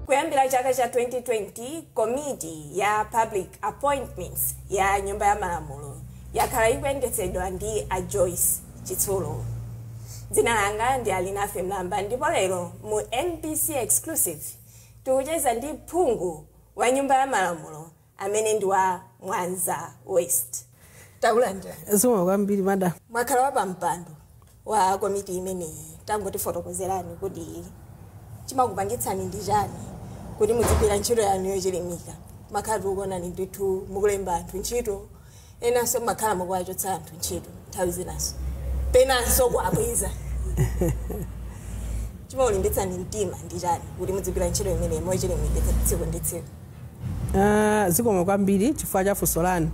kuyambira chaka cha 2020 komiti ya public appointments ya nyumba ya malamulo yakhala ikuyendetsedwa ndi a joyce chitsulo dzina langa ndi alinafe mlamba ndipo lero mu mbc exclusive tikucheza ndi phungu wa nyumba ya malamulo amene ndi wa Mwanza West. Takulandirani. Zikomo kwambiri madam. Mwakhala wa pampando wa komiti imeneyi. Tangotifotokozerani kuti chimakupangitsani ndi chani kuti muzigwira ntchito yanu yochilimika. Timakhala tikuonani ndithu mukulemba anthu ntchito enanso mumakhala mukuwachotsa anthu ntchito nthawi zinanso penanso kuwabweza chimakulimbitsani mtima ndi chani kuti mudzigwira ntchito imeneyi mochilimika tsiku ndi tsiku Ah, zikomo kwambiri chifukwa cha funso lanu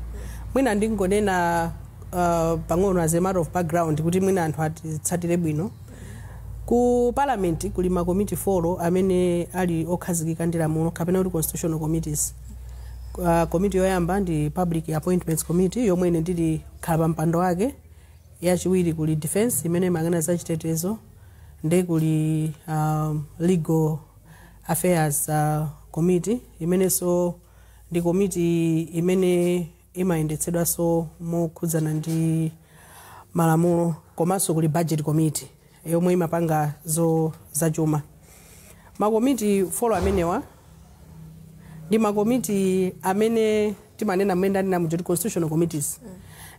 mwina ndingonena ah, pang'ono as a matter of background kuti mwina anthu atitsatire bwino Ku Parliament kuli ma komiti foro amene ali okhazikika ndi lamulo kapena kuti constitutional committees. Uh, komiti yoyamba ndi Public Appointments Committee yomwe ine ndili khalapampando wake. Yachiwiri kuli Defense imene imayang'ana za chitetezo ndi kuli um, Legal Affairs uh, Committee imenenso ndi komiti imene imayendetsedwanso mokhudzana ndi malamulo komanso kuli budget committee yomwe imapanga za zachuma makomiti folo amenewa ndi makomiti amene timanena mmene ndanena muja kuti constitutional committees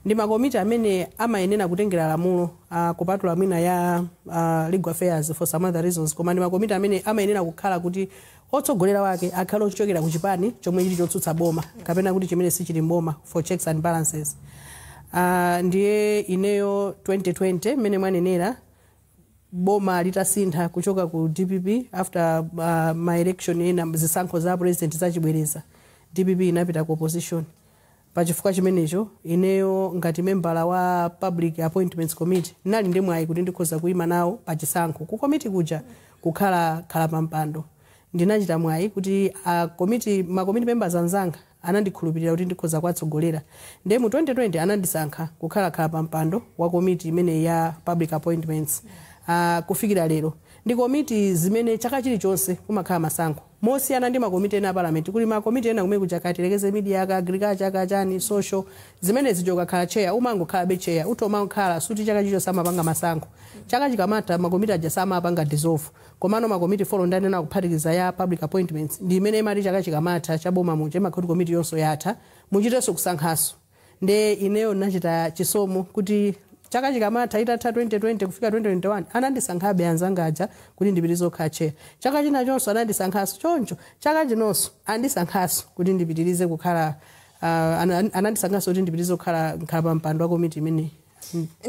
ndi makomiti amene amayenera kutengera lamulo ah, kupatula mwina ya ah, legal affairs for some other reasons koma ndi makomiti amene amayenera kukhala kuti Otsogolera wake akhale ochokera ku chipani chomwe chili chotsutsa boma kapena kuti chimene sichili m'boma for checks and balances. Ah, ndiye ineyo 2020 mmene mwanenera boma litasintha kuchoka ku dpp after uh, ma election ena a zisankho za president zachibwereza dpp inapita ku opposition Pa chifukwa chimenecho, ineyo ngati membala wa Public Appointments Committee, ndinali ndi mwayi kuti ndikhoza kuima nawo pa chisankho ku komiti kuja kukhala khalapampando. Ndinachita mwayi kuti a komiti, ma komiti members anzanga anandikhulupirira kuti ndikhoza kuwatsogolera. Ndiye mu 2020 anandisankha kukhala khalapampando wa komiti imeneyi ya Public Appointments. Ah, kufikira lero, ndi komiti zimene chaka chilichonse kumakhala masankho. Mosiyana ndi makomiti ena a parliament kuli ma komiti ena kumene kuja kaya tilekeze media ka agriculture ka chani social zimene zija ukakhala chair umangokhalabe chair utha kumangokhala sikuti chaka chilichonse amapanga masankho chaka chikamatha makomiti aja samapanga dissolve komano makomiti folo ndanena kuphatikiza ya public appointments ndi imene imati chaka chikamatha cha boma muja imakhala kuti komiti yonse yatha muchitenso kusankhanso nde ineyo nachita chisomo kuti chaka chikamatha itatha 2020 kufika 2021 anandisankhabe anzanga aja kuti ndipitirize kukhala chair chaka chinachonso anandisankhanso choncho chaka chinonso andisankhanso kuti ndipitirize kukhala uh, ana- anandisankhanso kuti ndipitirize kukhala nkhala pa mpando wa komiti imeneyi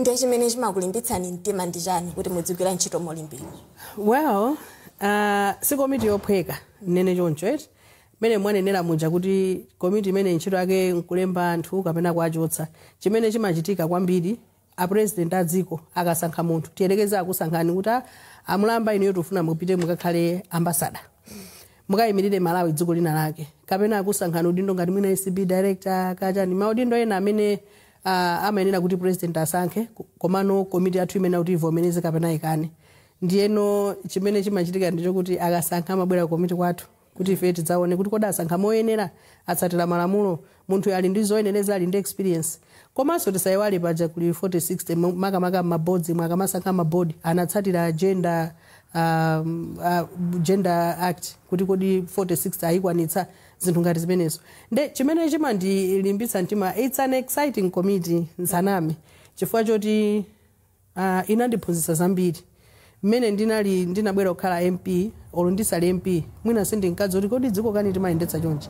ndiye chimene chimakulimbitsani mtima ndi chani kuti mudzigwira ntchito molimbika well uh, si komiti yophweka ndinene choncho eti mmene mwanenera muja kuti komiti imeneyi ntchito yake nkulemba anthu kapena kuwachotsa chimene chimachitika kwambiri a president a dziko akasankha munthu tiyerekeze akusankhani kuti "Ah, a Mlamba inuyo tikufuna mupite mukakhale ambasada mukayimirire malawi dziko lina lake kapena akusankhani udindo ngati mwina acb director kachani maudindo ena amene uh, amayenera kuti president asankhe ko- komano komiti yathu imene kuti ivomereze kapena ikane ndiyeno chimene chimachitika ndichokuti akasankha amabwera komiti kwathu kuti ife tidzaone kuti kodi asankha moyenera atsatira malamulo munthu ali ndi zoyenereza ali ndi experience komanso tisayiwale paja kuli 4060 mo- makamaka mabodzimu akamasankha mabodi anatsatira gender um, uh, gender act kuti kodi 4060 ayikwanitsa zinthu ngati zimenezo nde chimene chimandilimbitsa mtima its an exciting committee nsaname chifukwa choti Uh, inandiphunzitsa zambiri mmene ndinali ndinabwera kukhala mp olo ndisali mp mwina sindinkadziwa kuti kodi dziko kani timayendetsa chonchi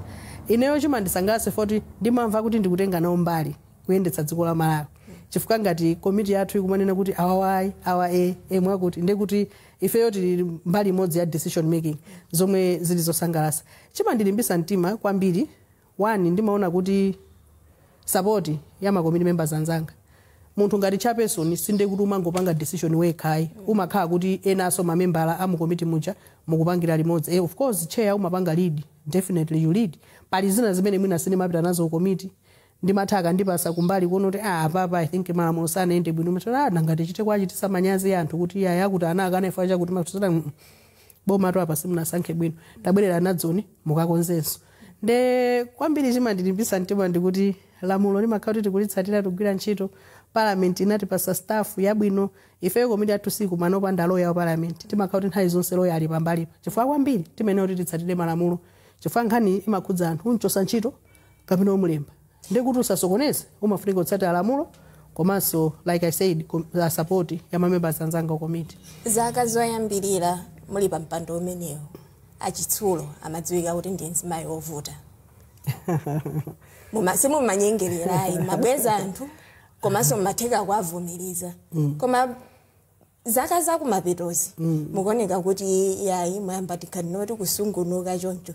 ineyo chimandisangalatsa foti ndimamva kuti ndikutenga nawo mbali kuyendetsa dziko la malawi chifukwa ngati komiti yathu ikumanena kuti awawa ayi awa ee mwakuti ndiye kuti ifeyo tili mbali imodzi ya decision making zomwe zili zosangalatsa chimandilimbisa mtima kwambiri One ndimaona kuti support ya ma committee members anzanga munthu ngati chairperson sinde kuti umangopanga decision wekha ayi umakhala kuti enanso mamembala amu committee muja mukupangira limodzi eh, of course chair umapanga lead definitely you lead pali zina zimene mwina sindimapita nazo ku committee ndimatha akandipasa kumbali kuona kuti ah apapa i think malamulo sanayende bwino matala ah, nangati chite kuwachititsa manyazi anthu kuti yaya kuti ana akana ifa chakuti mafuta boma to apa simunasankhe bwino tabwerera nazoni mukakonzenso nde kwambiri chimandilimbitsa mtima ndikuti lamulo limakhala kuti tikulitsatira tikugwira ntchito parliament inatipatsa staff yabwino ifeyo komiti yathu sikumana opanda loya wa parliament timakhala kuti nthawi zonse loya ali pambalipa chifukwa kwambiri timayenera kuti titsatire malamulo chifukwa nkhani imakhudza anthu umchotsa ntchito kapena umulemba ndiye kuti usasokoneze umafunika kutsatira lamulo komanso like i said com- uh, support ya mamembers anzanga a komiti zaka zoyambirira muli pa mpando umenewu achitsulo mmadziwika kuti ndi mzimayi wovuta Muma- simumanyengerera ayi mmabweza anthu komanso mmatheka kuwavumiriza koma zaka zakumapetozi mm. mukuoneka kuti yayi mwayamba tikhala ngati kusungunuka choncho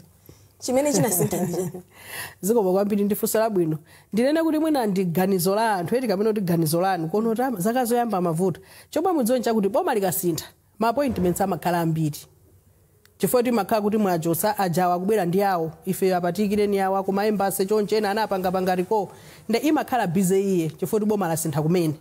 chimene chinasintha ndi chani zikomo kwambiri ndifunso labwino ndinene kuti mwina ndi ganizo la anthu eti kapena kuti ganizo lanu kuona kuti ama- zaka zoyamba amavuta chomwe mudziwe nchakuti boma likasintha ma appointments amakhala ambiri chifukwa choti imakhala kuti mwachotsa ujawa akubwera ndi awo ife apa tiikireni awa ku ma embassy choncho ena anapangapanga recall nde imakhala busy iye chifukwa choti boma lasintha kumene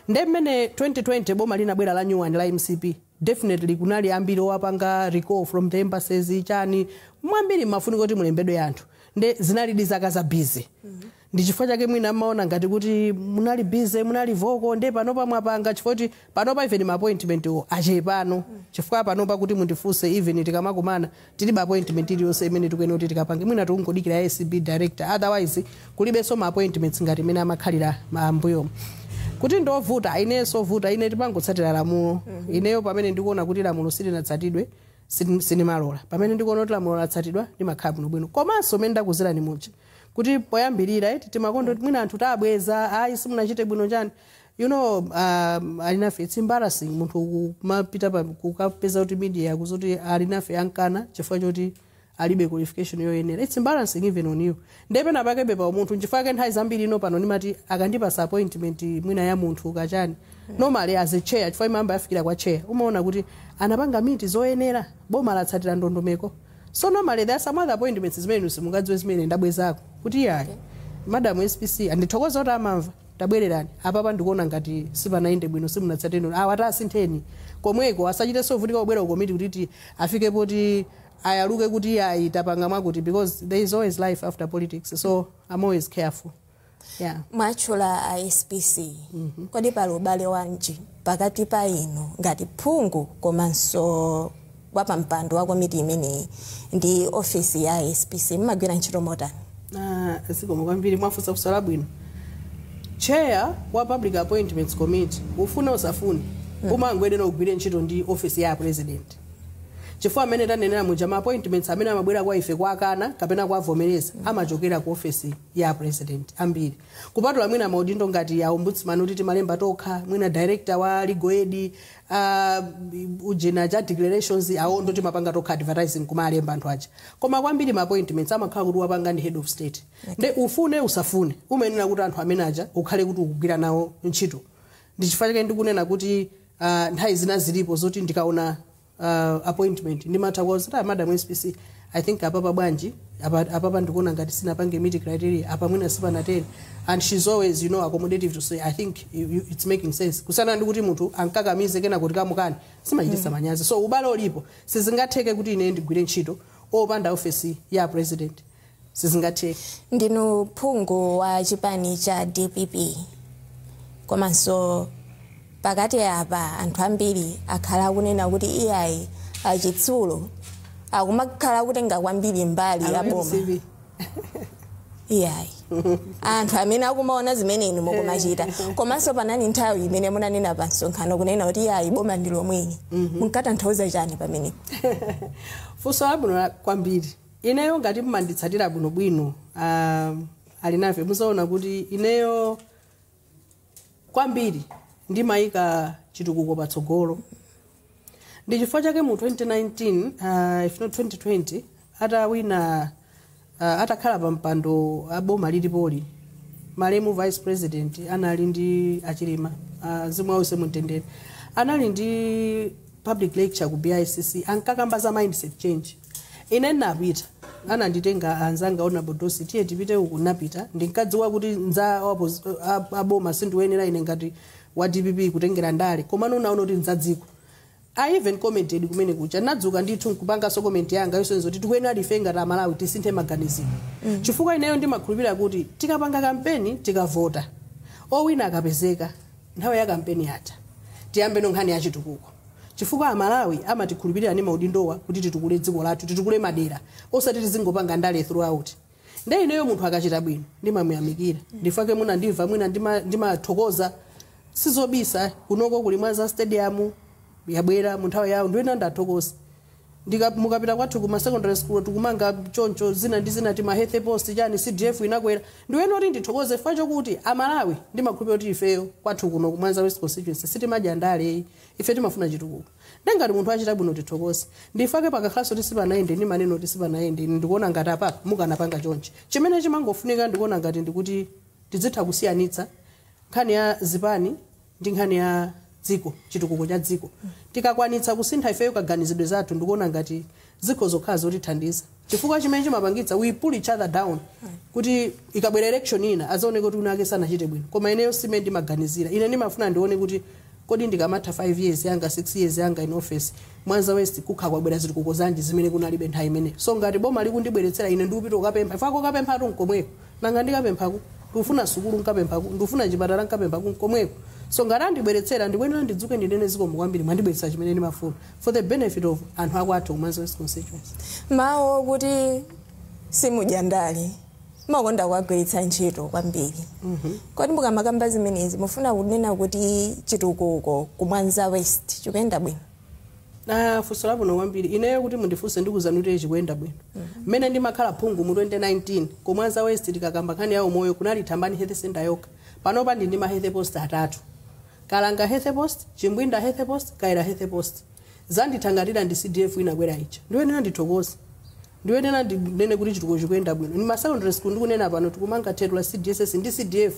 nde mmene 2020 boma linabwera la new one la mcp definitely kunali ambiri owapanga recall from the embassies chani mwambiri mmafunika kuti mulembedwe anthu nde zinalidi zaka za busy Ndi chifukwa chake mwina mmaona ngati kuti munali busy, munali vocal nde panopa mwapanga chifukwa choti panopa even ma appointment wo achepano chifukwa panopa kuti mundifunse even tikamakumana tilibe appointment iliyonse imene tikuyenera kuti tikapange mwina tikungodikira ya acb director otherwise kulibenso ma appointments ngati mmene amakhalira ma mbuyomu. Kuti ndi ovuta, ayi ineyo siovuta, ine ndimangotsatira lamulo. Ineyo pamene ndikuona kuti lamulo silinatsatidwe sin- sindimalola. Pamene ndikuona kuti lamulo latsatidwa ndimakhala bwinobwino. Komanso mmene ndakuzirani muja kuti poyambirira eti timakonda kuti mwina anthu tabweza ayi simunachite bwino chani you know um Alinafe its embarrassing munthu kumapita pa- kukapeza kuti media kuzati Alinafe amkana chifukwa choti alibe qualification yoyenera its embarrassing even on you ndiye pena pakebe pa umunthu nchifukwa chake nthawi zambiri ine pano ndimati akandipasa appointment mwina ya munthu kaya chani normally as a chair chifukwa imayamba yafikira kwa chair umaona kuti anapanga meet zoyenera boma latsatira ndondomeko So normally there are some other appointments zimene inu simungadziwe zimene ine ndabwezako kuti iyayi madam SPC ndithokoza kuti amamva tabwererani apapa ndikuona ngati sipanayende bwino simunatsate inu awa tasintheni komweko asachitenso kuvutika kubwera ku komiti kuti ti- afike poti ayaluke kuti iyayi tapanga mwakuti because there is always life after politics so I'm always careful yeah. mwatchula a spc mm -hmm. kodi pali ubale wanji pakati pa inu ngati phungu komanso wapampando wa komiti imeneyi ndi ofisi ya spc mmagwira ntchito motani Ah, zikomo kwambiri mwafunsa funso labwino chair wa public appointments committee ufune usafune umayenera ugwire ntchito ndi office ya president chifukwa mmene tanenera muja ma appointments amene amabwera kwa ife kwakana kapena kwavomereza amachokera ku office ya apresident ambiri kupatula mwina maudindo ngati a ombudsman oti timalemba tokha mwina director wa legal aid uh, ujeni wa declarations awo ndo timapanga tokha advertising kumalemba anthu aja koma kwambiri ma appointments amakhala kuti wapanga ndi head of state nde ufune usafune umayenera kuti anthu amene aja ukhale kuti ukugwira nawo ntchito ndichifukwa chake ndikunena kuti uh, nthawi zina zilipo zoti ndikaona uh, appointment ndimatha kuwauza ta madam spc i think apapa bwanji apa- apapa ndikuona ngati sinapange meet criteria apa mwina sipanateni and she's always you know accommodative to say i think you, you, it's making sense kusiyana ndi kuti munthu ankakamize kena kuti akamukane zimachitisa manyazi so ubale ulipo sizingatheke kuti ine ndigwire ntchito opanda ofesi ya president sizingatheke ndinu phungu wa chipani cha dpp komanso pakati apa anthu ambiri akhala akunena kuti iyayi achitsulo akumakhala akutenga kwambiri mbali ya boma iyayi anthu amene akumaona zimene inu mukumachita komanso panali nthawi imene munanena pa msonkhano kunena kuti iyayi boma ndi lomweli munkatanthauza chani pamenepo funso labwino la- kwambiri Ineyo ngati mmanditsatira bwinobwino uh, Alinafe muzaona kuti ineyo kwambiri ndimayika chitukuko patsogolo ndi chifukwa chake mu 2019 uh, if not 2020 atawina uh, atakhala pa mpando aboma lilipoli malemu vice president anali ndi achilima uh, mzimu wawo uwuse mumtendere anali ndi public lecture ku bicc ankakamba za mindset change Ine ndinapita, ananditenga anzanga honorable Dossi, tiye tipite uku, ndinapita. Ndinkadziwa kuti nza wapoz- a- aboma sindiwoyenera ine ngati wa DPP kutengera ndale, komano unaona kuti nzadziko. I even commented kumene kucha nadzuka ndithu nkupanganso comment yanga yosonyeza kuti tikuyenera ife ngati amalawi tisinthe maganizidwe mm. chifukwa ineyo ndimakhulupirira kuti tikapanga kampeni tikavota owina akapezeka Nthawi ya kampeni yatha. Tiyambeno nkhani ya chitukuko chifukwa amalawi amatikhulupilira ndi maudindowa kuti titukule dziko lathu, titukule madera osati tizingopanga ndale throughout. Nde ineyo munthu akachita bwino ndimamuyamikira ndifake munandimva mwina ndima ndimathokoza sizobisa kunoko kuli mwanza stadium yabwera munthawi ya awo ndiyenera ndithokoze. ndika mukapita kwathu ku ma secondary school tukumanga choncho zina ndi zina tima health post chani cdf inakwera ndiyenera kuti ndithokoze chifukwa chokuti amalawi ndimakhulupirira kuti ifeyo kwathu kuno ku mwanza west constituency sitimadya ndale ayi ife timafuna chitukuko nde ngati munthu achita bwino tithokoze ndifake pakakhalaso kuti sipanayende ndimanena kuti sipanayende ine ndikuona ngati apa mukanapanga chonchi chimene chimangofunika ndikuona ngati ndikuti tidzitha kusiyanitsa nkhani ya zipani ndi nkhani ya dziko chitukuko cha dziko tikakwanitsa kusintha ifeyo kaganizidwe zathu ndikuona ngati zikhoza kukhala zotithandiza chifukwa chimene chimapangitsa we pull each other down kuti ikabwera election ina azaoneke kuti winawake sanachite bwino koma ineyo simene ndimaganizira ine ndimafuna ndione kuti kodi ndikamatha 5 years yanga 6 years yanga in office mwanza west kukhala kwabwera zitukuko zanji zimene kunalibe nthawi imeneyo so ngati boma likundibweretsera ine ndikupita kukapempha chifukwa kokapemphatu nkomweko Nanga ndikapempha ku? Ndikufuna sukulu nkapempha ku? Ndikufuna chipatala nkapempha ku? Nkomweko. So ngati andibweretsera, ndikuyenera ndidzuke ndinene zikomo kwambiri mwandibweretsera chimene ndimafuna for the benefit of anthu akwathu ku Mwanza West constituency. mawu okuti simudya ndale mumakonda kuwagwiritsa ntchito kwambiri kodi mukamakamba zimenezi mufuna kunena kuti chitukuko ku mwanza west chikuyenda bwino Ah, funso labwino kwambiri ineyo kuti mundifunse ndikuuzani kuti chikuyenda bwino mmene ndimakhala phungu mu 2019 ku Mwanza West tikakamba nkhani ya umoyo kunali thambani health center yokha panopa ndili ndi ma health post atatu kalanga health post chimbwinda health post kaira health post zandithangatila ndi cdf inakwera ija ndikuyenera ndithokoze ndikuyenera ndinene kuti chitukuko chikuyenda bwino ndi ma secondary school ndikunena pano tikumanga thetu la cdss ndi cdf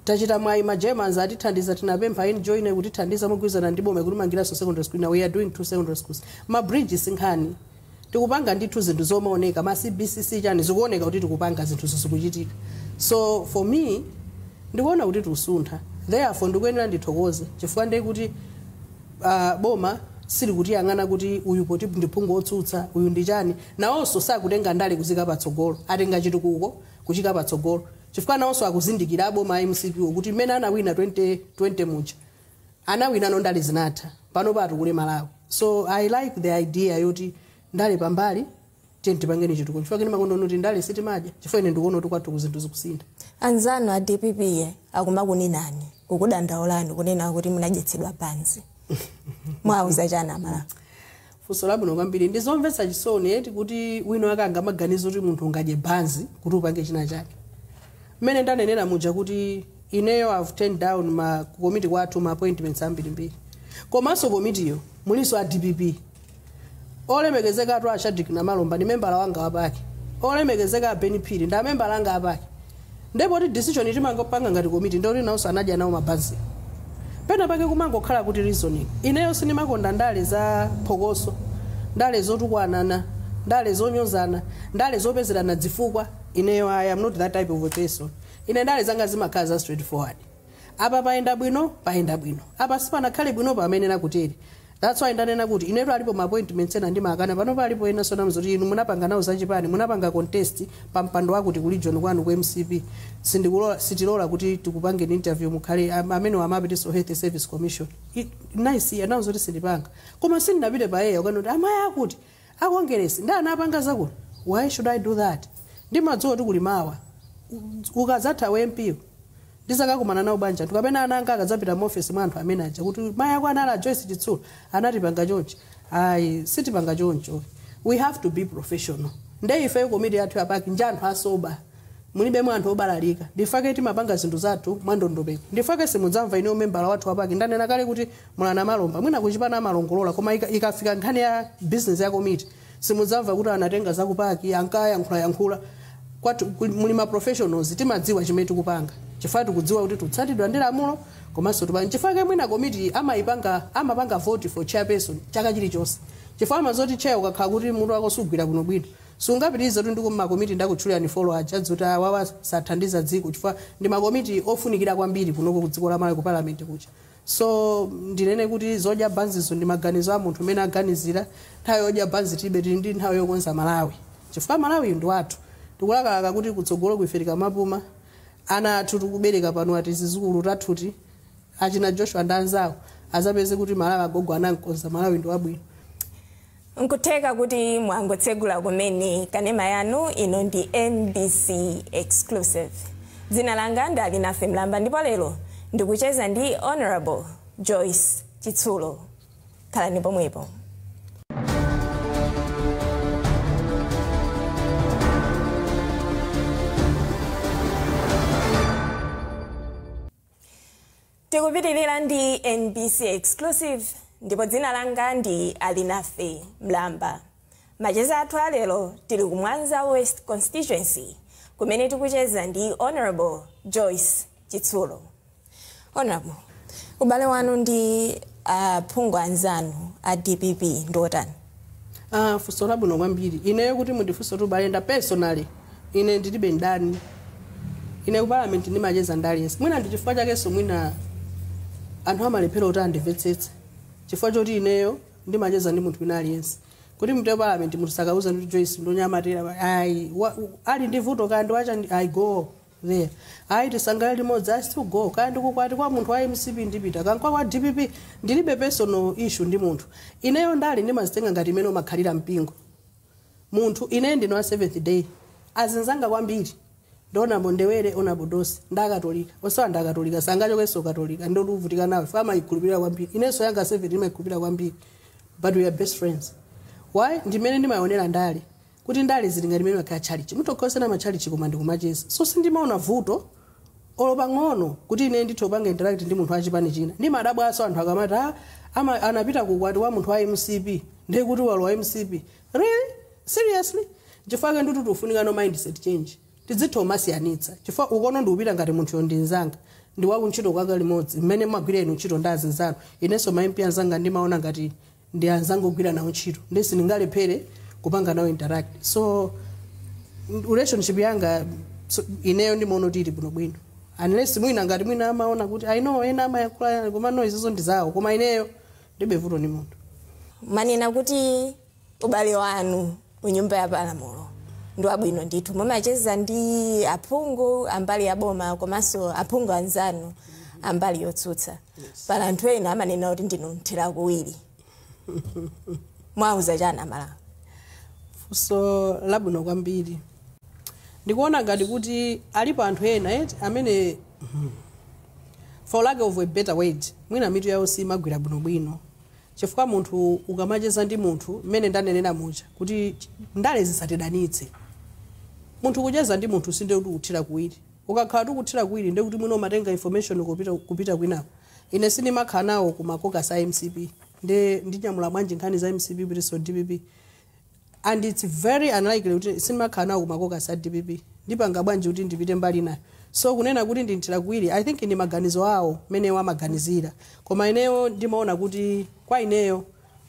Tachita mwayi ma Germans atithandiza tinapempha en joiner kutithandiza mogwirizana ndi boma ikutimangiranso secondary school now we are doing 2 secondary schools ma bridge si nkhani tikupanga ndithu zinthu zomaoneka ma cbcc chani zikuoneka kuti tikupanga zinthuzo zikuchitika so for me ndikuona kuti tikusuntha therefore ndikuyenera ndithokoze chifukwa ndiye kuti uh, boma silikutiyang'ana kuti uyu poti ndi phungu otsutsa uyu ndi chani nawonso sakutenga ndale kuziika patsogolo atenga chitukuko kuchiika patsogolo chifukwa nawonso akuzindikira aboma a mcp wo kuti mmene anawina 2020 muja anawina no ndale zinatha panopo atukule malawi so i like the idea yoti ndale pambali tiyeni tipange chitukuko chifukwa ine ndimakonda kuti ndale sitimadya chifukwa ine ndikuona kuti kwathuku zinthu zikusintha anzanu a dpp ye akumakuninani kukudandaulani kunena kuti munadyetsedwa banzi muwauza chani amalawi Funso labwino kwambiri. Ndi zomvetsa chisoni eti kuti winawake angamaganize kuti munthu ungadye banzi kuti upange china chake. Mmene ndanenera muja kuti ineyo I've turned down ma ku komiti kwathu ma appointments ambirimbiri. Komanso komitiyo mulinso a DPP. Olemekezeka atu a Shadrack Namalomba ndi membala wanga wa PAC. Olemekezeka a Ben Phiri ndi amembala anga a PAC. nde poti decision timangopanga ngati komiti nde kuti nawonso anadya nawo mabanzi pena pake kumangokhala good reasoning ineyo sindimakonda ndale za phokoso ndale zotukwanana ndale zonyozana ndale zopezerana dzifukwa ineyo i am not that type of a person ine ndale zanga zimakhala za straight forward apa payenda bwino payenda bwino apa sipanakhale bwino pamayenera kutere That's why ndanena kuti inetu alipo ma appointments ena ndimakana panopa alipo enanso ndinawauza kuti inu munapanga nawo zachipani munapanga contest pa mpando wakuti ku region kwanu ku mcp sindikulola sitilola kuti tikupangeni interview mukhale am- amenewo amapitanso health service commission I- nice anawuza kuti sindipanga koma sindinapite pa air kukana kuti amayi akuti A Kongeresi nde anapanga zakuti why should I do that? Ndimadziwa kuti kuli mawa. Ukadzatha u MP wo, ndizakakumana nawo banja lathu kapena ana anga akadzapita mu office mwa anthu amene aja kuti mai ako anali a Joyce Chitsulo anatipanga chonchi. Ayi, sitipanga choncho. We have to be professional. Nde ife komiti yathu ya Pac nja anthu a sober. Mulibemo anthu obalalika. Ndifake timapanga zinthu zathu mwa ndondomeko. Ndifake simudzamva ine membala wathu wa Pac ndanena kale kuti Mulana Malomba mwina kuchipana amalongolola koma ika- ikafika nkhani ya business ya komiti simudzamva kuti anatenga zakupaki ankayankhulayankhula kwathu ku- muli ma professionals timadziwa chimene tikupanga chifukwa tikudziwa kuti tikutsatidwa ndi lamulo komanso tipa- chifukwa chake mwina komiti amayipanga amapanga vote for chairperson chaka chilichonse chifukwa amadziwa zoti chair ukakhala kuti mutu wako sugwira kuno bwino sungapitirize kuti ndiko makomiti ndakutchulirani four aja ndiye kuti awawa sathandiza dziko chifukwa ndi makomiti ofunikira kwambiri kunoko ku dziko la malawi ku parliament kucha So ndinene kuti zodya banzizo ndi maganizo a munthu mmene akuganizira. Nthawi yodya banzi tilibe, tili ndi nthawi yokonza Malawi chifukwa Malawiyu ndi wathu. Tikulakalaka kuti kutsogoloku ife tikamapuma, ana athu tikubereka panowa, tizizukulu tathuti, achina Joshua ndi anzawo, adzapeze kuti Malawi agogo anam'konza, Malawi ndi wabwino. Nkutheka kuti mwangotsegula kumene kanema yanu, ino ndi MBC Exclusive. Dzina langa ndi Alinafe Mlamba ndipo lero ndikucheza ndi Hon. Joyce Chitsulo. Khalani pomwepo. tikupitirira ndi mbc exclusive ndipo dzina langa ndi alinafe mlamba macheza athu alero tili ku mwanza west constituency kumene tikucheza ndi honorable joyce chitsulo honorable ubale wanu ndi aphungu anzanu a dpp ndi otani Ah, funso labwino kwambiri ineyo kuti mundifunse kuti ubale nda personally ine ndilibe ndani ine ku parliament ndimacheza ndi aliyense mwina ndi chifukwa chakenso mwina anthu amalephera kuti andimvetsetse chifukwa choti ineyo ndimacheza ndi munthu wina aliyense kuti mupite parliament munthu sakauzani joyce ndi wonyamatira ayi wa- ali ndi vuto akandi-invita i go There. Ayi tisangalale limodzi I still go. Kaya ndi ku ukwati kwa munthu wa MCP ndipita. Kaya nkwa wa DPP ndilibe personal issue ndi munthu. Ineyo ndale ndimazitenga ngati mmene umakhalira mpingo. Monga ine ndine wa Seventh Day. Azinzanga kwambiri. Ndi Hon. Bondewere Hon. Budosi ndakatolika. Onsewa ndakatolika sangachokenso katolika ndivutika nawo. Chifukwa amaikhulupirira kwambiri. Inenso yanga Seventh ndimayikhulupirira kwambiri. But we are best friends. Why? Ndimene ndimaonera ndale. kuti ndale zili ngati mene imakhala tchalitchi mutha kusiyana matchalitchi koma ndikumacheza so sindimaona vuto olo pang'ono kuti ine ndithe kupanga interact ndi munthu wa chipani china ndimadabwaso anthu akamati "Ah, ama- anapita kukwati wa munthu wa mcp ndiye kuti walowa mcp really seriously chifukwa chake ndikuti ikufunika mindset change tidzitha kumasiyanitsa chifukwa ukoko ndikupita ngati munthu woti ndi nzanga ndi wakuntchito kwanga limodzi mmene mmagwira inu ntchito ndi azinzanu inenso ma mp anzanga ndimaona ngati ndi anzanga ogwira nawo ntchito ndi sindingalephere kupanga nawo interact so n- relationship yanga so, ineyo ndimaona kuti ili bwinobwino unless mwina ngati mwina amaona kuti i know ena amayankhula yani koma no izizo ndi zawo koma ineyo ndibe vuto ndi munthu mwanena kuti ubale wanu kunyumba ya malamulo ndi wabwino ndithu mumacheza ndi aphungu ambali ya boma komanso aphungu anzanu ambali yotsutsa pali anthu ena amanena kuti ndinu mthira kuwiri muwauza chani amalawi funso labwino kwambiri ndikuona ngati kuti alipo anthu ena eti amene mhm, for lack of a better word mwina mitu yawo simagwira bwinobwino chifukwa munthu ukamacheza ndi munthu mmene ndanenera muja kuti ch- ndale zisatidanitse munthu kucheza ndi munthu sinde kuti ukuthira kuwiri Ukakhala ukuthira kuwiri ndiye kuti mwina umatenga information kupita kupita kwinako. Ine sindimakhala nawo ku ma caucus a mcp nde ndinyamula bwanji nkhani za mcp kupititsa dpp and its very unlikely kuti sindimakhala nawo ku ma caucus a dpp ndipanga bwanji kuti ndipite mbali inayo. So kunena kuti ndi mthira kuwiri I think ndi maganizo awo mmene iwo amaganizira koma ineyo ndimaona kuti kwa ineyo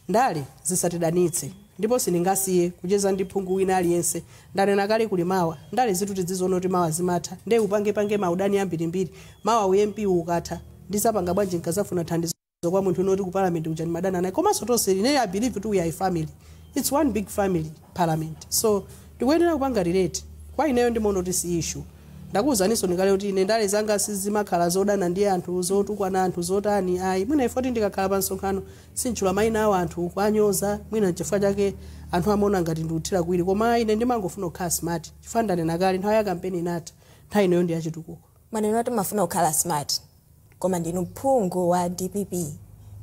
Ndale zisatidanitse ndipo sindingasiye kucheza ndi phungu wina aliyense. Ndanena kale kuli mawa. Ndalezitu tidziziona kuti mawa zimatha nde upangepange maudani ambirimbiri mawa u MP wu ukatha ndizapanga bwanji nkazafuna thandizo kwa munthu wina oti ku parliament kuja ndimadana naye komanso tonse ineyo I believe kuti we are a family. It's one big family parliament so tikuyenera kupanga relate. Kwa ineyo ndimaona kuti si issue. Ndakuuzaninso ndikale kuti ine ndale zanga sizimakhala zodana ndi anthu, zotukwana anthu, zotani ayi. Mwina chifukwa choti ndikakhala pa msonkhano Sinditchula maina a wanthu, kuwanyoza, mwina nchifukwa chake anthu amaona ngati ndikuthira kuwiri koma ayi ine ndimangofuna kukhala smart chifukwa ndanena kale nthawi ya kampeni inatha nthawi inoyo ndi ya chitukuko. Mwanena kuti mmafuna kukhala smart koma ndinu phungu wa dpp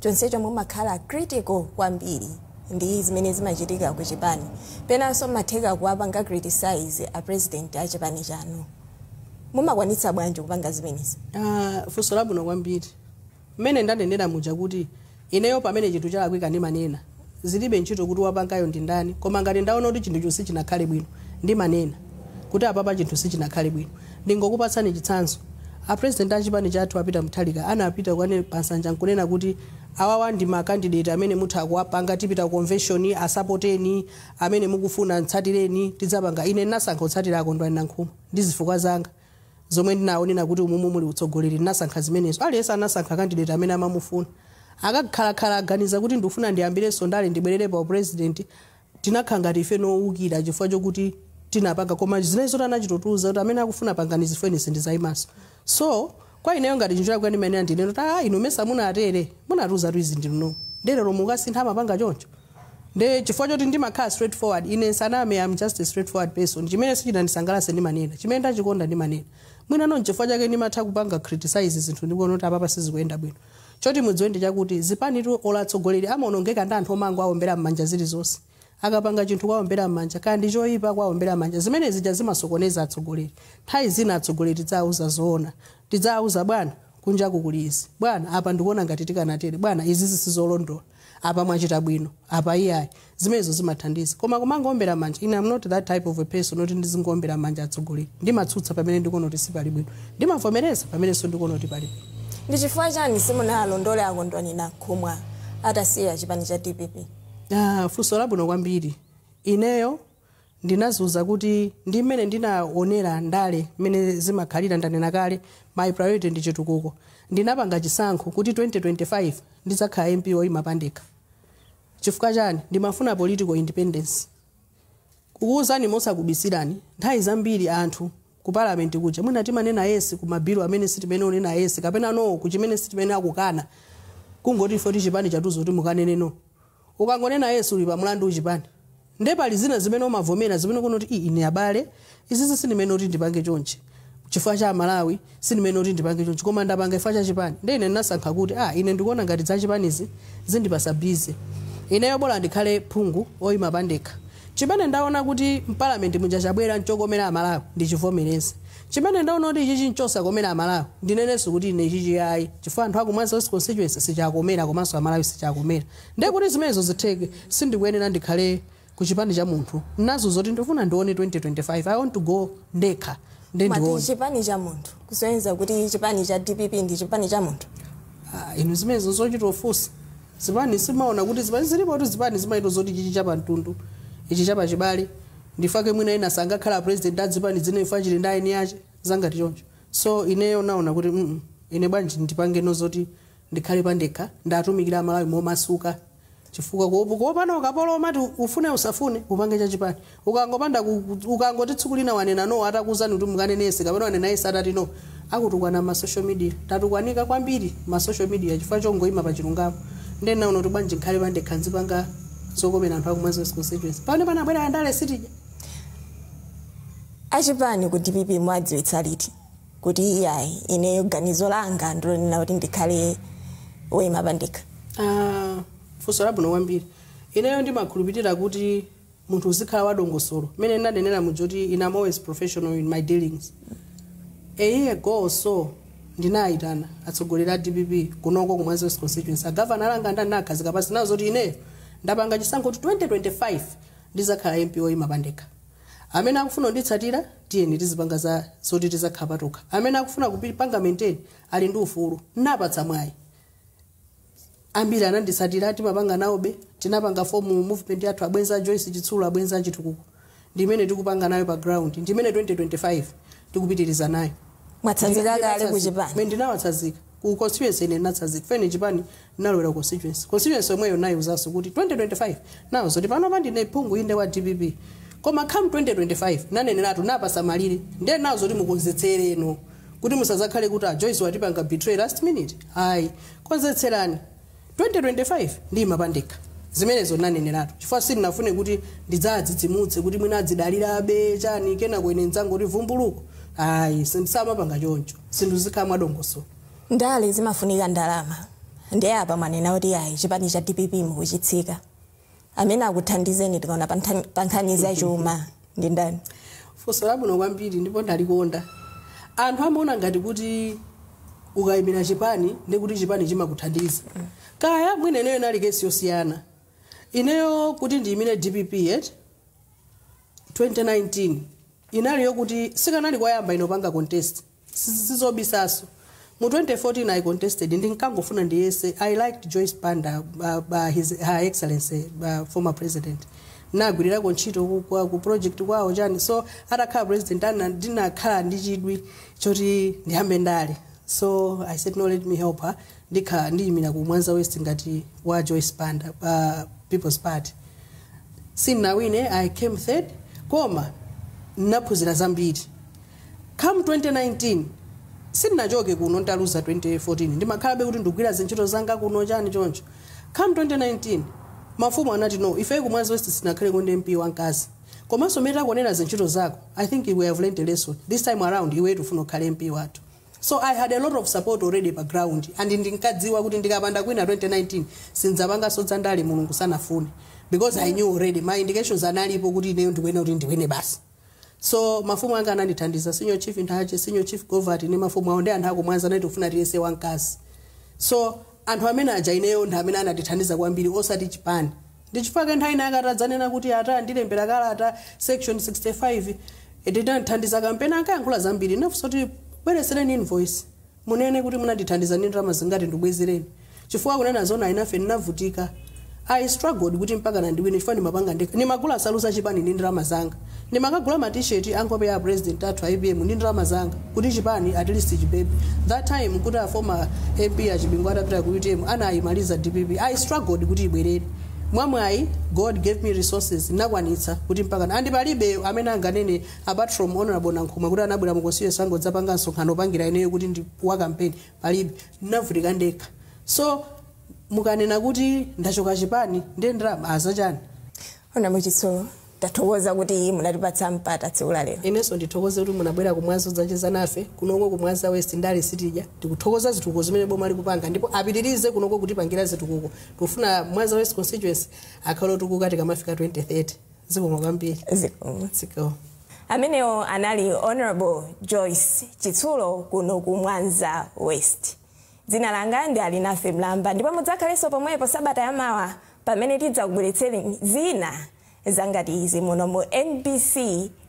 chonsecho mumakhala critical kwambiri ndi zimene zimachitika ku chipani penanso mmatheka kuwapanga criticise a president a chipani chanu mumakwanitsa bwanji kupanga zimenezi? Aaa funso labwino kwambiri. Mmene ndanenera muja kuti ineyo pamene chinthu chalakwika ndimanena, zilibe ntchito kuti wapangayo ndi ndani koma ngati ndaona kuti chinthucho sichinakhale bwino ndimanena kuti apapa chinthu sichinakhale bwino. Ndingokupatsani chitsanzo, a president a chipani chathu a Peter Mutharika anapita kukanena pa nsanja nkunena kuti awawa ndi ma candidate amene mutha kuwapanga, tipita ku convention, asupporteni, amene mukufuna mtsatireni, tidzapanga. Ine ndinasankha kutsatira a Kondwani Nankhumwa ndi zifukwa zanga. zomwe ndinaona kuti umumu muli utsogoleri ndinasankha zimenezo aliyense anasankha candidate amene amamufuna akakhalakhala aganiza kuti ndikufuna ndiyambirenso ndale ndibwerere pa upresident tinakhala ngati ife ndi owukira chifukwa chokuti tinapanga koma zimene zoti anachita kutiuza kuti amene akufuna pangani ine sindizayimanso so kwa ineyo ngati chinthu chalakwika ndimayenera ndinene kuti a inu mesa munatere munatiuza kuti izi ndinu nomwe nde lero mukasintha amapanga choncho Nde chifukwa choti ndimakhala straight forward ine ndisaname am just a straight forward person chimene sichinandisangalatse ndimanena chimene ndachikonda ndimanena mwina nchifukwa chake ndimatha kupanga criticise zinthu ndikuona kuti apapa sizikuyenda bwino choti mudziwe ndi chakuti zipanitu olo atsogoleri amaonongeka ndi anthu omangowaombera m'manja zilizonse akapanga chinthu kuwaombera m'manja kaya ndi choyipa kuwaombera m'manja zimene zija zimasokoneza atsogoleri nthawi zina atsogoleri tidziwauza zoona tidziwauza bwana kunjaku kuli izi bwana apa ndikuona ngati tikanatere bwana izizi sizolondola apa mwachita bwino apa iyayi zimenezo zimathandiza koma kumangoombera manja ine am not that type of a person oti ndizingoombera manja atsogoleri ndimatsutsa pamene ndikuona kuti sipali bwino ndimavomereza pamenenso ndikuona kuti pali bwino ndi chifukwa chani simunalondole a Kondwani Nankhumwa atasiya chipani cha dpp Ah, funso labwino kwambiri ineyo ndinaziuza kuti ndi mmene ndinaonera ndale mmene zimakhalira ndanena kale my priority ndi chitukuko ndinapanga chisankho kuti 2025 ndidzakhala mp oyima pandekha chifukwa chani ndimafuna political independence kukuwuzani mosakubisirani nthawi zambiri anthu ku parliament kuja mwina timanena yes ku mabilu amene sitimayenera kunena yes kapena no ku chimene sitimayenera kukana kungoti ifeyo chipani chatiuza kuti mukanene no Ukangonena yes uli pa mlandu ku chipani nde pali zina zimene umavomera zimene ukuona kuti ii ine abale izizi sindimayenera kuti ndipange chonchi chifukwa cha amalawi sindimayenera kuti ndipange chonchi koma ndapanga chifukwa cha chipani nde ine ndinasankha kuti ah ine ndikuona ngati za chipanizi zindipatsa busy ineyo bola ndikhale phungu oyima pandekha chimene ndaona kuti mpalamenti muja chabwera nchokomera amalawi ndichivomereze Chimene ndaona kuti ichichi nchosakomera amalawi ndinenenso kuti ine ichichi ayi chifukwa anthu aku Mwanza West Constituency sichiwakomera komanso amalawi sichiwakomera nde kuti zimenezo zitheke sindikuyenera ndikhale ku chipani cha munthu nchazo zoti ndifuna ndione 2025 I want to go ndekha nde mwati ndione chipani cha munthu kusonyeza kuti chipani cha DPP ndi chipani cha munthu. Ah, inu zimenezo nzochita kufunsa zipani simumaona kuti zipani zilipo kuti zipani zimachita zoti chichi chapa mtundu ichi chapa chibale ndifake mwina ena sangakhale a president a zipani zina ife chili ndi eni ache za ngati choncho so ineyo naona kuti mm ine bwanji ndipangeno zoti ndikhale pandekha ndatumikire amalawi momasuka chifukwa kuopa kuopana ukapolo umati ufune usafune upange za chipani ukangopanda ku- ku- ukangoti tsiku lina wanena no atakuuzani kuti mukanene yes kapena wanena yes atati no akutukwana mma social media. Tatukwanika kwambiri mma social media chifukwa chongoima pa chilungamo. Nde ndinaona kuti bwanji ndikhale pandekha nzipanga zokomera anthu aku Mwanza West Constituency. Pamenepa nambewu ya ndale sitija. Achipani ku dpp mwadziwitsa liti kuti iyayi ineyo ganizo langa ndilonena kuti ndikhale woyima pandekha? Ah, funso labwino kwambiri. Ineyo ndimakhulupirira kuti munthu uzikhala wadongosolo mmene ndinanenera muja kuti ine am always professional in my dealings a year ago or so ndinayitana atsogoleri a dpp kunoko kumwanza west constituency agavana alanga ndani nakhazika pansi nawauza kuti ineyo ndapanga chisankho kuti 2025 ndizakhala mp oyima pandekha amene akufuna kunditsatira tiyeni tizipanga za zoti tizakhala patokha amene akufuna kupanga maintain ali ndi ufulu napatsa mwayi ambiri ananditsatira timapanga nawobe tinapanga form movement yathu abwenzi a joyce chitsulo abwenzi a chitukuko ndimene tikupanga nayo pa ground ndimene 2025 tikupitiriza nayo Mwatsanzika kale ku chipani. Mene ndinawatsanzika ku constituency ine ndinatsanzika chifukwa ine chipani ndinalowera ku constituency constituency yomweyo naiuzanso kuti 2025 nauza zoti panopa ndine phungu inde wa dpp koma come 2025 naneneratu na pa msamaliro ndiye nauza kuti mukonzekereno kuti musazakhale kuti a joyce watipanga betray last minute ayi konzekerani 2025 ndiyima pandekha zimenezo ndinaneneratu chifukwa sindinafune kuti ndidzadzidzimutse kuti mwina adzidalirabe chani kenako ine ndidzangoti vumbuluku ayi samapanga choncho zinthu zizikhala mwadongosolo ndale zimafunika ndalama ndiye apa mwanena kuti ayi chipani cha dpp mukuchisiya amene akuthandizeni tikaona pa nthan- pa nkhani za chuma ndi ndani funso labwino kwambiri ndipo ndalikonda anthu amaona ngati kuti ukayimira chipani ndi kuti chipani chimakuthandiza kaya mwina ineyo inali kesi yosiyana ineyo kuti ndiyimire dpp ya 2019 inali yokuti sikanali koyamba ine kupanga contest sizobisanso mu 2014 i contested ndinkangofuna ndiyese i liked joyce banda uh, uh, his, her excellency uh, former president nagwirirako ntchito ku- kwa- ku project kwawo chani so atakhala president ana ndinakhala ndi chidwi choti ndiyambe ndale so i said no let me help her ndikhala ndiyimira ku mwanza west ngati wa joyce banda uh, people's party sinawine i came third koma nnaphunzira zambiri Come 2019 sindinachoke kuno nditaluza 2014 ndimakhalabe kuti ndikugwira zintchito zanga kuno chani choncho come 2019 mafumu anati no ifeyo ku mwanza west sitinakhaleko ndi mp wamkazi komanso mmene takuwonera zintchito zako i think we have learnt a lesson this time around iwe tufuna ukhale mp wathu so i had a lot of support already pa ground and ndinkadziwa kuti ndikapanda kuwina 2019 sindzapanganso dzandale mulungu sanafune because i knew already my indications analipo kuti ineyo ndikuyenera kuti ndiwine basi so mafumu anga anandithandiza senior chief nthache senior chief govati ndi mafumu awo ndi anthu akumwanza anati tikufuna tiyese wamkazi so anthu amene aja ineyo ndi amene anandithandiza kwambiri osati chipani ndi chifukwa chake nthawi ina atadzanena kuti ati andilembera kalata section 65 tinathandiza kampeni ankayankhula zambiri ndinafunsa kuti bweretsereni invoice Munene kuti munandithandiza ndi ndalama zingati ndikubwezereni chifukwa kunena zoona ine ndinavutika I struggled kuti mpakana ndiwine chifukwa ndimapanga ndekha ndimagula nsalu za chipani ndi ndalama zanga ndimakagula ma t-shirt a nkhope ya a president athu a apm ndi ndalama zanga kuti chipani at least chipepe that time nkuti a former MP a Chibingu atapita ku utm anayimaliza dpp I struggled kuti ibwerere mwamwayi God gave me resources ndinakwanitsa kuti mpakana and palibe amene anganene apart from Hon Nankhumwa kuti anabwera mu constituency yanga kudzapanga msonkhano opangira ineyo kuti ndi wa campaign palibe ndinavutika ndekha so mukanena kuti ndachoka chipani ndiye ndalama zachani Honorable Chitsulo, tathokoza kuti munatipatsa mpata tsiku la lero. inenso ndithokoze kuti munabwera ku mwanza kudzacheza nafe kunoko ku mwanza west ndale sitidya tikuthokoza zitukuko zimene boma likupanga ndipo apitirize kunoko kutipangira zitukuko tikufuna mwanza west constituency akhale otukuka tikamafika 2030 zikomo kwambiri zikomo zikomo amenewo anali honorable joyce chitsulo kuno ku mwanza west dzina langa ndi alinafe mlamba ndipo mudzakhalenso pomwepo sabata yamawa pamene tidzakubweretsereni zina zangati izi muno mu mbc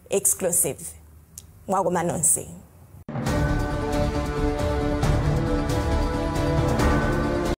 exclusive mwakoma nonse